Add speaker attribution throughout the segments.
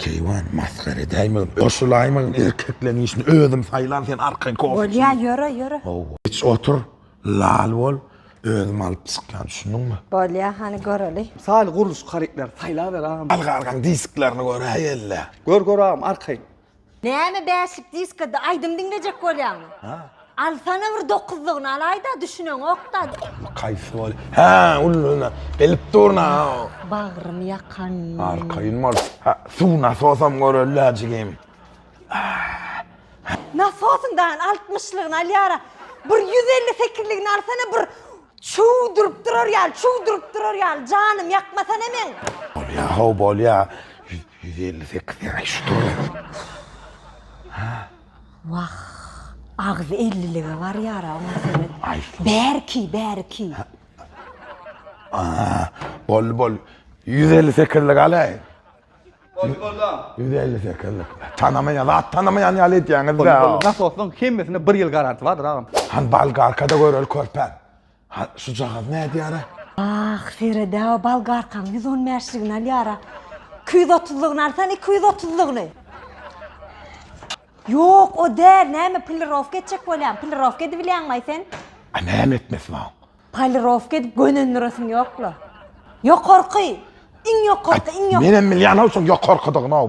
Speaker 1: Keýwan masgara edäýmegin goşulaýmagyn erkekleň işini özüm saýlan sen arkaýyn kofeçini. Bolýa ýöre ýöre.
Speaker 2: Iç otur
Speaker 1: lal bol özüm alyp çykýan düşündiňmi. Bolýa hany
Speaker 2: göreli. Saly gurluşyk harytlar
Speaker 3: saýlaber agam. Alga algaň disklerini
Speaker 1: göräý elle. Gör gör agam
Speaker 3: arkaýyn. Näme
Speaker 2: bäşlik diskada aýdym diňlejek bolýaňmy. Alsana bir dokuzlygyny alaýda düşüneňokda. Kaýsy bol.
Speaker 1: Hä, ulluna. Gelip durna. Bagrym
Speaker 2: ýakan. Arkaýyn bol.
Speaker 1: Hä, suw nasosam görelde jigim.
Speaker 2: Nasosyň dagyny altmyşlygyny alýara. Bir ýüz elli sekizligini alsana bir çuw durup durar ýaly, çuw durup durar ýaly. Janym ýakmasana meň. Bolýa how bolýa.
Speaker 1: Ýüz elli sekiz ýaşy dur. Hä.
Speaker 2: Wah, agzy ellilige barýar-a oň Asemet. Bärki,
Speaker 1: bärki. Boldy, boldy. Ýüz elli sekizlik alaýyn. Boldy, boldy.
Speaker 3: Ýüz elli sekizlik.
Speaker 1: Tanamaýan, zat tanamaýan ýaly edýäňiz-dä. Boldy, boldy. Nasosyň hemmesinde
Speaker 3: bir ýyl garantiýa bardyr agam. Hany Bolgarka-da
Speaker 1: göreli körpäm. Ha, şu jagaz nädýär-ä? Ah, Feride-ä
Speaker 2: bolgarkaň ýüz on bäşligini alýar-a. Iki ýüz otuzlygyny alsan, iki ýüz otuzlygyny. Ýok, o däl, näme, polirowka etjek bolýan, polirowka edibilýäňmi-aý sen? A näme etmesi
Speaker 1: bar? Polirowka edip
Speaker 2: gönendiresiň ýok-la. Ýokarky, iň ýokarky, iň ýokarky. Menem bilýän-ow şoň
Speaker 1: ýokarkydygyny-ow.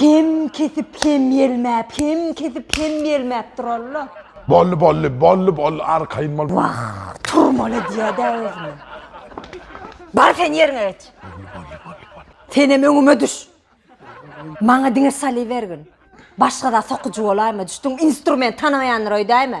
Speaker 2: Hem kesip hem ýelmäp, hem kesip hem ýelmäp duralla. Bolly bolly, bolly
Speaker 1: bolly arkaýyn bol. Wah, turmaly
Speaker 2: edýä-dä özüni. Bar sen ýeriňe geç. Bolly bolly bolly bolly. Senem öňüme düş. Maňa diňe salybergin. Başga-da sokujy bolaýma, düşdüňmi? Instrument tanamaýandyr öýdäýme.